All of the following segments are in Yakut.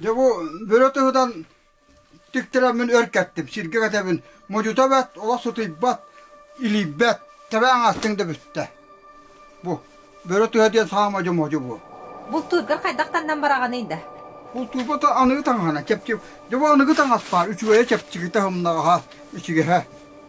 Дьэ бу бөрө туһунан тиктираммын өр кэттим. Сиргэ кэтэбин. Модьута бэт, олох сутуйбат, илийбэт. Тэбэҥ астыҥ да бүттэ. Бу бөрө туһа диэн саамай модьу бу. Бултуургар хайдах таннан бараҕаный да? Бултуурбата аныгы таҥаһана кэпчик. Дьэ бу аныгы таҥас баар. Үчүгэйэ чэпчики таһымнаҕаһа, үчүгэһэ.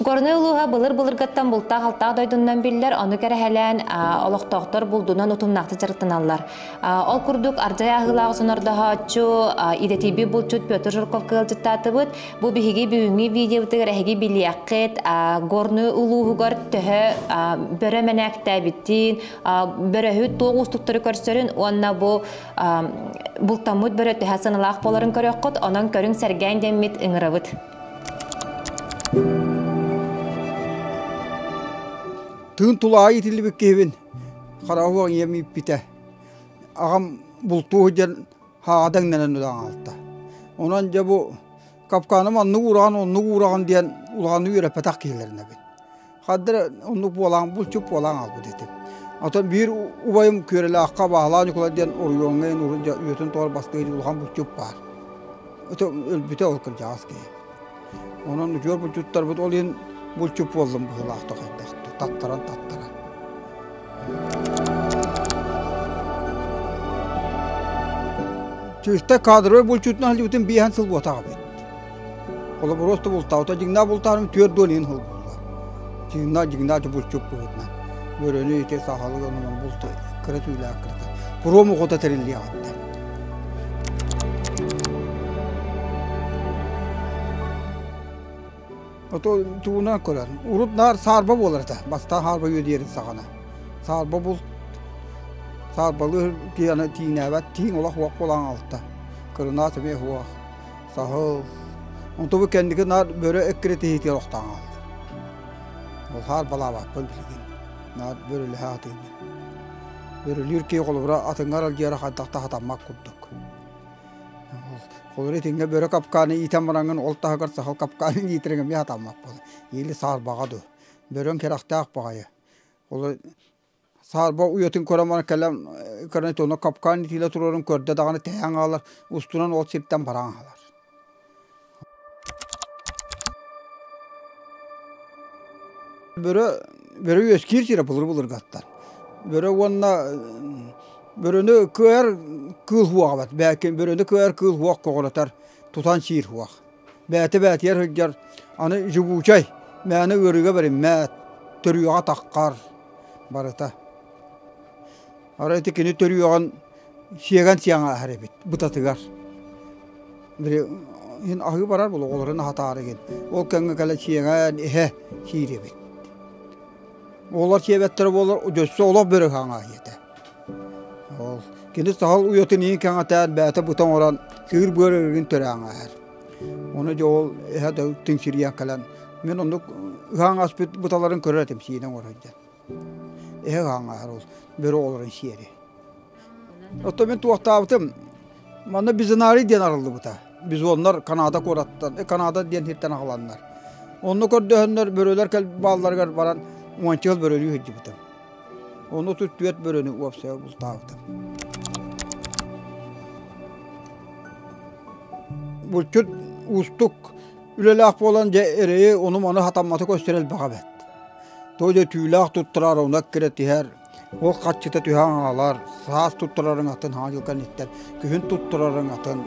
Горнай улууһа былыр-былыргаттан бултаах-алтаах дойдунан биллэр, ону кэрэһэлээн олохтоохтор булдунан утумнаахтык дьарыктаналлар. Ол курдук, ардьай аһыылаах сонордоһооччу, идэтийбит булчут Петр Жирковка ыалдьыттаатыбыт. Бу биһиги бүгүҥҥү видеобытыгар эһиги билиэххит, Горнай улууһугар төһө бөрө мэнээктээбитин, бөрөһүт туох уустуктары көрсөрүн уонна бу бултаммыт бөрө төһө саналаах буоларын көрүөххүт, онон көрүҥ-сэргээҥ диэммит ыҥырабыт. Тыын тулаайы итиллибит киһибин хараһыан ийэм ииппитэ. Аҕам бултуу сылдьан хаадаҥнанан ылан аалта. Онон дьэ бу капканым оннук уураҕын оннук уураҕын диэн улаҕаны үөрэппэтэх киһилэринэбин. Хадда эрэ оннук буолан, булчут буолан хаалбыт этим. Оттон биир убайым Күөрэлэххэ Баһылаа Ньукулай диэн оройуоҥҥа иин урут үөтүн тоҕор баскыга иһин улахан булчут баар. Ытым өлбүтэ ол кырдьаҕас киһи. Онон үтүөр булчуттарбыт ол иһин булчут буоллум быһыылаахтык хайдахтык таттаран таттаран. Чыыста кадровый булчутунан сылдьыбытым биэһэн сыл буотаҕа эбит. Холобуруста бултаабыта дьиҥнээх бултаарым түөрт дуон иин холбуулла. Дьиҥнээх дьиҥнээх чупуччук быһыытынан. Бөрөнү ити сахалык оннунан булта кыра түүлээх кырата. Пуруом охота тэриллиэҕиттэн. Ото тугунан көрөн, урут наар саарба буолар этэ. Бастаан саарба үөдиэрин саҕана. Саарба булт саарбалыыр тиине тиинээбэт тииҥ олох уох булаан алта. Кырынаас эмиэ уох. Саһыл, онтубу кэнники наар бөрө эккирэтиһиитигэр охтоон хааллар. Ол хаар балаабаппын билигин. Наар бөрөлөһө атыыны. Бөрөлүүр киһи холобура атыҥар алдьыара хантах таһатаммат курдук. Холобура итиҥҥэ бөрө капкааны иитэн бараҥын ол таһыгар сахал капкааны иитириҥ эмиэ атаммаппын. Или саарбаҕа ду. Бөрөҥ кэрэхтээх баҕайы. Ол Саарба уйатын көрөн баран кэлэн көрөн онно капкаан итиилэ туруорун көрдө даҕаны тэһээн хаалар устунан ол сиртэн баран хаалар Бөрө бөрө үөскиир сирэ былыр-былыргаттан бөрө уонна бөрөнү кыайар кыыл уоҕа эбэт бэкин бөрөнү кыайар кыыл уох көҕүрэтэр тутан сиир уох бэти-бэтийэ сылдьар, аны Дьокуучай мээнэ ыарыыга бэриммэт, төрүөҕэ таххар, барыта. Арай ити кини төрүөҕүн сиэгэн сиэҥээһэр эбит бытатыгар. Били иһин аһыы барар буолуо оҕолорун аһатаары игин. Ол кэмҥэ кэлэ сиэҥэн иһэ сиир эбит. Оҕолор сиэбэттэрэ буоллар дьөссө олох бөрө хаҥаһы этэ. Ол кини сахал уйатын иин кэҥэтээр бээтэ бута оҥорон кыыр быар өрүгүн төрөөҥөһөр. Оны дьэ ол эһэ да тиҥсирийэн кэлэн мин оннук ыһаан аспыт буталарын көрөр этим сиинэ оҥорор дьэн. Эһэ ыһаангаһар ол бөрө олорун сиэри. Оттон мин туохтаабытым манна Бизанарий диэн арыллыбыта. Бизоннар Канада куораттан, э, Канада диэн сиртэн аҕаланнар. Онну көрдөһөннөр бөрөлөр кэл баалларыгар баран уончыл бөрөлүү сылдьыбытым. Ону отут түөрт бөрөнү уопсайа бултаабытым. Булчут уустук үлэлээх буолан дьэ эрэйи ону-маны хатамматы көстөр элбэҕэ бэт. Той дьэ түүлээх туттарар уна кирэ тиһэр, ол хаччыта түһэн аалар, саас туттарарың атын хаҥа дьыл кэнниттэн күһүн туттарарың атын,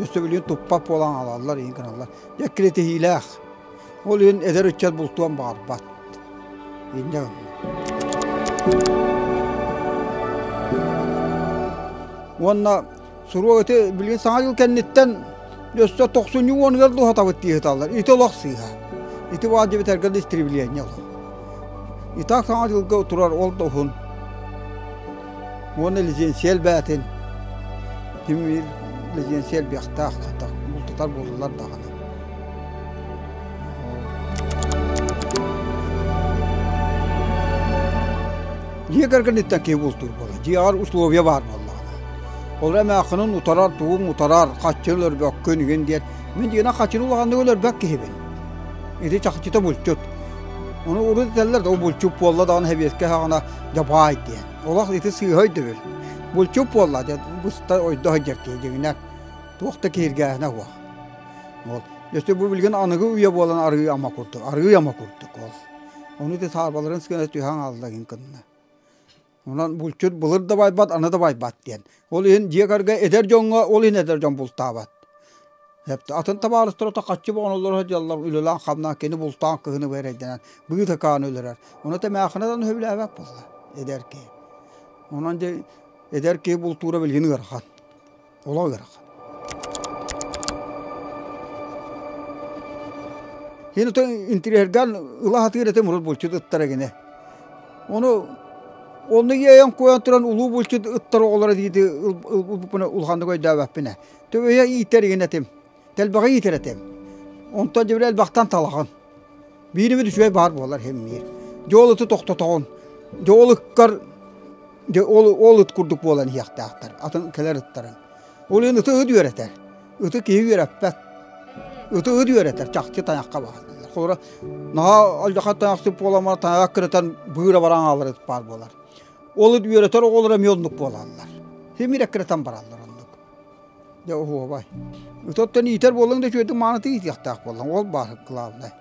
өссөбүлүн туппат буолан аалаллар, иһин гыналлар. Дьэ кирэтиһиилээх. Ол иһин эдэр ыччат бултуон баҕарбат. Инньэ Уонна суруок ити билигин саҥа дьыл кэнниттэн өссө тохсунньу уонугар да уһатабыт дии сыталлар. Ити олох сыыһа. Ити баар дьиэ бүтэргэр да истребление олох. И так саҥа дьылга турар ол да уһун. уонна лизиэнсийэ элбээтин тимир лизиэнсийэ элбиэхтээх бултатар буоллулар даҕаны дьиэ кэргэниттэн киһи бултуур буолар дьиэҕэр условия баар буоллаҕына ол эмээхинин утарар тугуҥ утарар хаччы өлөрбөккүн игин диэн мин дьиэнэн хаччыны улаханнык өлөрбөк киһибин ити чахчыта булчут ону урут этэллэр да булчут буолла даҕаны сэбиэскэ хаҕына Дапаай диэн. Олох ити сыыһа өйдөбүл. Булчут буолла диэн буста ойдо сылдьар дьиҥинэ туох да киһиргээһинэ уох. Ол дьөстө бу билгин аныгы үйэ буолан арыы ама курдук, арыы ама курдук ол. Ону ити саарбаларын сгэнэ түһэҥ алла гин кынна. Онон булчут былыр да байбат, аны да байбат диэн Ол иһин дьиэ кэргэ эдэр дьоҥҥо ол иһин эдэр дьон бултаабат. Атын табаарыстарыта хаччы боҕоноллоро дьаллар үлэлээн-хамнаан кини бултаан кыһыны эрэйдэнэн быытыкаан өлөрөр. Ону тэмээхинэдэн сөбүлээбэт буолла эдэр киһи. Онон дьэ эдэр киһи бултуура билигин ыарахан. Олох ыарахан. Ин ытын интириэргэн ыла сатыыр этим урут булчут ыттара гине. Ону онно иэйэн куйан туран улуу булчут ыттар оҕолоро диити улпупуна улаханнык өйдөөбөппүнэ төбөйө иитэр игин этим тэлбэҕэ иитэр этим онтон дьэбири элбэхтэн талаҕын бииримит үчүгэй баар буолар хэммиир дьуолуту тохтотоҕун дьуолуккар ол ыт курдук буолан иһиэхтээхтэр атын кэлэр ыттарын ол иһин ыты ыт үөрэтэр Ыты киһи үөрэппэт. Ыты ыт үөрэтэр чахчы тайахха баҕарылар. Холобура, наһаа алдьархан тайахсыт буоламар тайаҕа кырытан быыра баран аалар ыт баар буолар. Ол ыт үөрэтэр оҕолоро эмиэ оннук буолаллар. Симирэ кырытан бараллар оннук. Дьэ оһуобай. Ыт оттон иитэр буоллаҥ да үчүгэйдик маанытык иитиэхтээх буоллаҥ. Ол баар главное.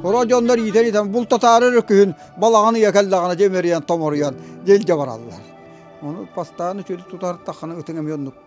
Хоро дьоннор иитэр иитэн бултатаары өрө күһүн балаҕаны ийэ кэллэҕинэ дьэ имэрийэн томоруйан дьэлдьэ бараллар. Ону бастаан үчүгэй тутар таххана ытыҥ эмиэ оннук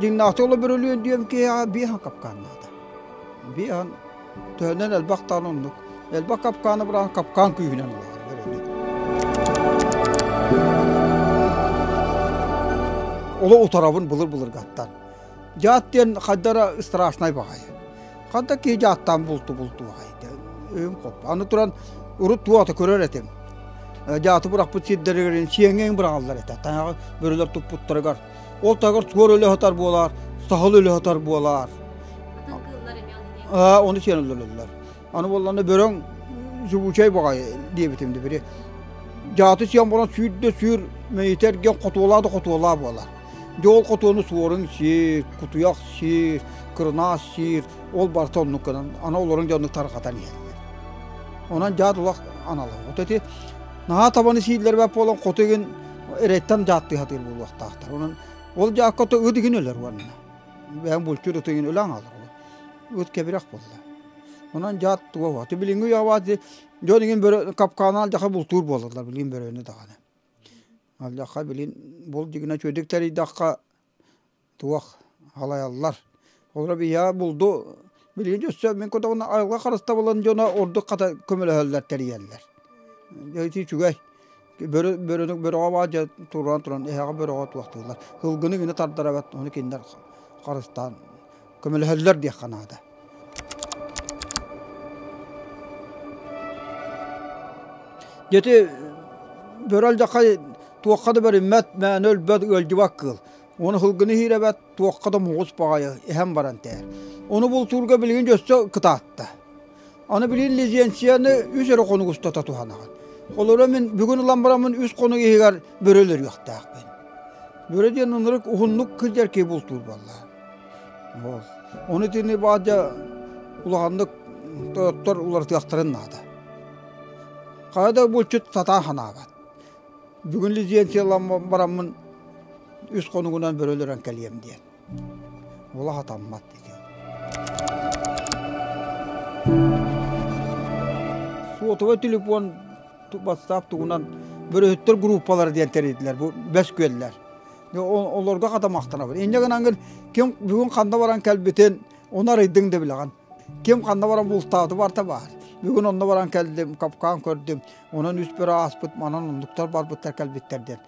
Дьиҥнаахтык олобөрөлүөн диэм киһиэхэ биэһэн капкааннаата. Биэһэн төһөнөн элбэх даҕаны оннук. Элбэх капкааны быраан капкаан күүһүнэн ылаары Оло утарабын былыр-былыргаттан. Жаат диэн хайдара страшнай баҕайы. Ханта ки жааттан булту булту баҕайы. Өйүм хоп. Аны туран урут туота көрөр этим. Жааты бырахпыт сирдэригэрин сиэҥең бырагаллар этэ. Таҥаҕы бөрөлөр туппуттарыгар. Ол тагар туор өлө хатар буолар, сахыл өлө хатар буолар. Оны сен өлөлөллөр. Аны болланна бөрөң зубучай баҕай диэбитим да бiri. Жааты сиан болан сүүрдэ сүүр мөйүтэрген хотуолаа да хотуолаа буолар. Жоол хотуону суорун сиир, кутуйах сиир, кырынаас сиир, ол барта оннук гынан, ана олорун дьоннук тарҕатан иһэллэр. Онон жаат улах аналы. Вот эти наһаа табаны сииллэр бап болан хоту игин эреттен жаатты хатыыр булуохтаахтар. Онон ол жаакка то ыт игин өлөр уонна. Бээн булчур ытыгын өлөң алар. Ыт кэбирэх болла. Онон дьэ туоһу. Ити билиҥҥи үйэ абаат дьон игин бөрө капканаан дьаха бултуур буолаллар билигин бөрөнү даҕаны. Алдьарха билигин бул дьигинэ үчүгүдүк тэрийдэххэ туох халайаллар. Олоро биһиэхэ булду билигин өссө мин кутабына айылҕа харыстабылын дьоно ордук хата көмөлөһөллөр тэрийэллэр. Дьэ ити үчүгэй. бөрөҕө баар дьэ туруоран туран эһэҕэ бөрөҕө туохтууллар кылгыны гына тардарабат ону кинилэр харыстаан көмөлөһөллөр диэххэ наада дьэти бөрө алдьархай туохха да бэриммэт мээнэ өлбөт ыалдьыбат кыыл уону кылгыны иһиирэбэт туохха да муҥус баҕайы эһэм баран тэйэр ону бултуурга билигин өссө кытаатта Аны билин лицензияны үс эрэ хонук устата туһанаҕын. Олору мин бүгүн ылан бараммын үс хонук иһигэр бөрөлөрүөхтээхпин. Бөрө диэн ынырык уһуннук кырдьарки бултуур буолла. Ол. Ону итини баадьа улаханнык тойоттор уларытыахтарын наада. Хара да булчут сатаа ханаабат. Бүгүн лицензия ылан бараммын үс хонугунан бөрөлөрөн кэлиэм диэн. Ула сатаммат дике. Суотова телефон бастаап тугунан бөрөһүттер группалары диэн теритилер бу бөскүөллер. Олорго хатамактанабын. Инне гынан ким бүгүн ханна баран кэлбитин оны арыйдың да билаған. Ким ханна баран бултааты барта бар. Бүгүн онно баран келдим, капкан көрдүм. Онон үс бир ааспыт манан онлуктар барбыттар келбиттер ден.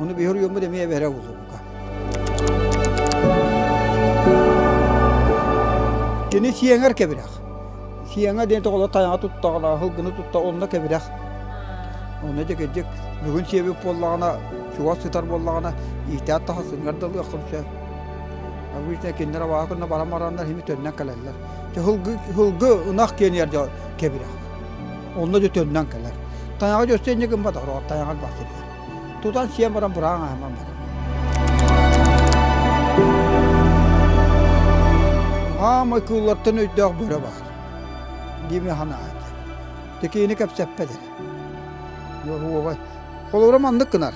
Ону биһөрүйөммүт эмиэ эбэрэ узурука. Кини сиэңэр кэбирэх. Сиэңэ диэн тоҕоло тайаҕа туттаҕына, хылгыны тутта онно кэбирэх. Онно декеддик бүгүн сиэбик буоллаҕына, чугас сытар буоллаҕына, иитээт тахасынгар далыаххым сөп. Обычно кинилер абаһа күннэ баран бараннар хими төннөн кэлэллэр. Хылгы хылгы ынах киэнiyэр кэбирэх. Онно да төннөн кэлэр. Тайаҕа дьөстө иннигин батар, тайаҕа бахсырга. Тутан сиэн баран бураан аһыман барар. Аамай кууллартан өйдөөх бөрө баар. Диме ханаайы. Текиини кэпсэппэдэр. Уовай. Холора маннык кынар.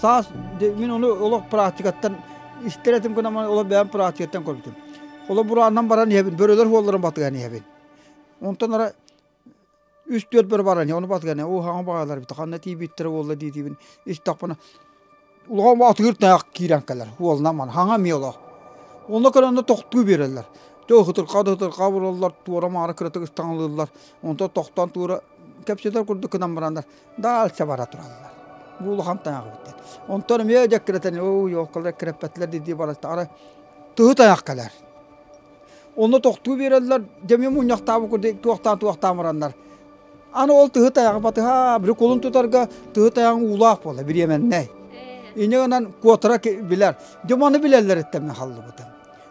Саас мин оны олох практикаттан истер этим кынаман олох бэйэм практикаттан көрбүтүм. Холо бурааннан баран иһэбин, бөрөлөр хуолларын батыган иһэбин. Онтон ара үс-түөрт бөрө баран ону батганы ууһаҕын баалар бит ханна тиибиттер буолла диитибин истэхпина улахан атыыр таах киирэн кэлэр уолна ман хаҥа миоло онно кэлэнне тохтуу биэрэллэр то хытырха да хытырха бураллар туора маара кыратык ыстаҥылыыллар онто тохтон туура кэпсэтэр курдук кынан бараннар даалса бара тураллар бу улахан таах битте онтон эмиэ дьэккиретен оо йооккалар кирэппэтлэр дии бараттаара тыһы таах кэлэр Онно тохтуу биэрэллэр, дэмиэ мунньахтаабы курдук туохтаан туохтаамыраннар. Аны ол тыһы тайаҕы батыһа, били кулун тутарга тыһы тайаҕын уулаах буола, бириэмэннэй. Иньэ гынан куотара билэр. Дьэ маны билэллэриттэн мен халлыбытым.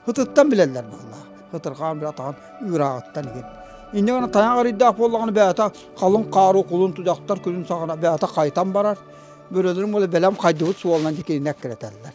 Хытыттан билэллэр бааллаах. Хытырхаан бир атаҕын ыырааҕыттан игин. Иньэ гана тайаҕ арыйдаах буоллаҕына бэйэтэ халыҥ хаару кулун тудахтар күнүн саҕана бэйэтэ хайтан барар. Бөрөлөрүн буола бэлэм хайдыбыт суолунан дикининэ кирэтэллэр.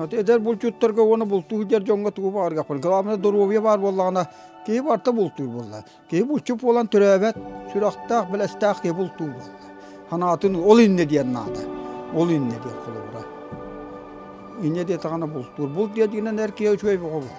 Вот эдэр булчуттарга уонна бултуу сылдьар дьоҥҥо тугу баҕаргахпын. Главное доруобуйа баар буоллаҕына киһи барта бултуур буолла. Киһи булчут буолан төрөөбөт, сүрэхтээх, белэстээх киһи бултуур буолла. Санаатын ол иннэ диэн наада. Ол иннэ диэн холобура. Иннэ диэтэҕинэ бултуур. Булт диэтигинэн эр киһи үчүгэй бөҕө буолла.